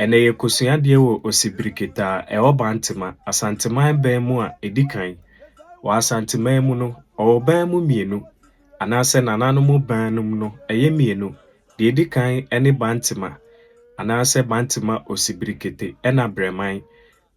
Ɛnnɛ yɛrekosua adeɛ wɔ Osibiriketa a ɛwɔ Bantema, Asanteman bɛn mu a ɛdi kan. Wɔ Asanteman mu no, wɔwɔ bɛn mu mmienu, anaasɛ nananom bɛn nom no ɛyɛ mmienu, deɛ ɛdi kan ne Bantema, anaasɛ Bantema Osibirikete ɛna Brɛman.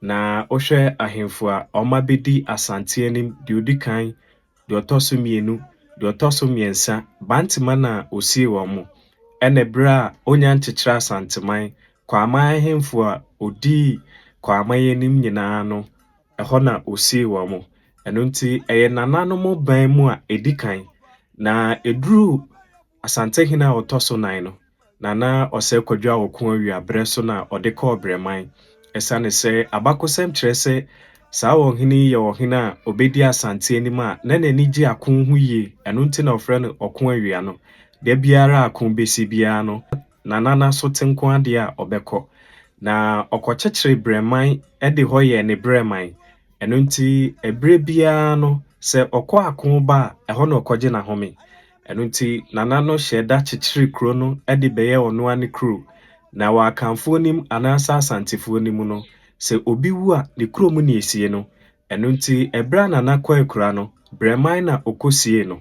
Na wohwɛ ahemfo a wɔabɛdi Asante anim, deɛ ɔdi kan deɛ ɔtɔ so mmienu, deɛ ɔtɔ so mmiɛnsa, Bantema na ɔsii wɔn mo, ɛna ɛberɛ a ɔnya nkyekyerɛ Asanteman, Kwaaman ahemfo a ɔdii Kwaaman anim nyinaa no, ɛhɔ na ɔsii wɔn mo. Ɛno nti ɛyɛ nananom ban mu a ɛdi kan, na ɛduru. Asantehene a ɔtɔ so nan no, Nana Ɔsɛ Kwadwo a ɔko awia berɛ so na ɔde kɔɔ Brɛman. Ɛsiane sɛ abakɔsɛm kyerɛ sɛ saa ɔhene yi yɛ ɔhene a ɔbɛdi Asante anim a na n'ani gye ako ho yie, ɛno nti na wɔfrɛ no Ɔko Awia no. Da biara a ako bɛsi biara no, Nana no aso te nko adeɛ a ɔbɛkɔ. Na ɔkɔkyekyeree Brɛman de hɔ yɛɛ ne brɛman. Ɛno nti, ɛberɛ biara no, sɛ ɔkɔ ako ba a, ɛhɔ na ɔkɔgye n'ahome. Ɛno nti, Nana no hyɛɛ da kyekyeree kuro no de bɛyɛɛ ɔno ara ne kuro, na wɔ Akanfoɔ no mu anaasɛ Asantefoɔ no mu no, sɛ obi wu a, ne kurom na ɛsie no. Ɛno nti, ɛberɛ a Nana kɔ akura no, Brɛman na ɔkɔsiee no.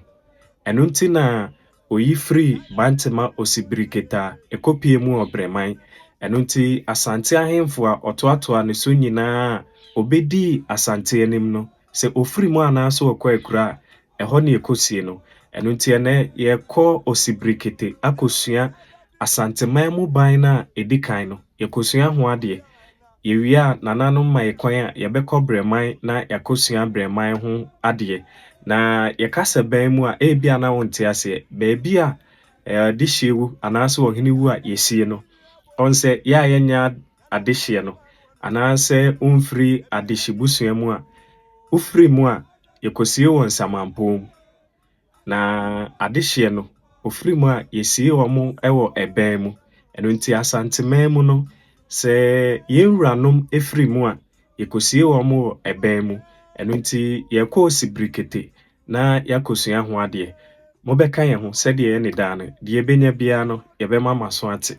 Ɛno nti na ɔyi firii Bantema Osibiriketa ɛkɔpue mu wɔ Brɛman. Ɛno nti, Asante ahemfo a ɔtoatoaa ne so nyinaa a ɔbɛdii Asante anim no, sɛ ɔfiri mu anaasɛ ɔkɔ akura a, Ɛhɔ na yɛkɔsie no. Ɛno nti ɛnnɛ yɛrekɔ Osibrikete akɔsua Asanteman mu ban no a ɛdi kan no. Yɛkɔsua ho adeɛ. Yɛwie a, nananom ma yɛn kwan a yɛbɛkɔ Brɛman na yɛakɔsua Brɛman ho adeɛ. Na yɛkasa bɛn mu a, ebia na wonte aseɛ. Baabi a adehyeɛ wu anaasɛ ɔhene wu a yɛsie no. Ɔhu sɛ yɛ a yɛnyɛ adehyeɛ no anaasɛ womfiri adehyebusua mu a, wofiri mu a, Yɛkɔsie wɔn samanpɔn mu. Na adehyeɛ no, wɔfiri mu a, yɛsie wɔn wɔ ɛbɛn mu. Ɛno nti Asanteman mu no, sɛ yɛn wuranom firi mu a, yɛkɔsie wɔn wɔ ɛbɛn mu. Ɛno nti yɛkɔ Osibrikete na yɛakɔsua ho adeɛ. Mobɛka yɛn ho sɛdeɛ ɛne daa no. Deɛ yɛbɛnya biara no, yɛbɛma mo aso ate.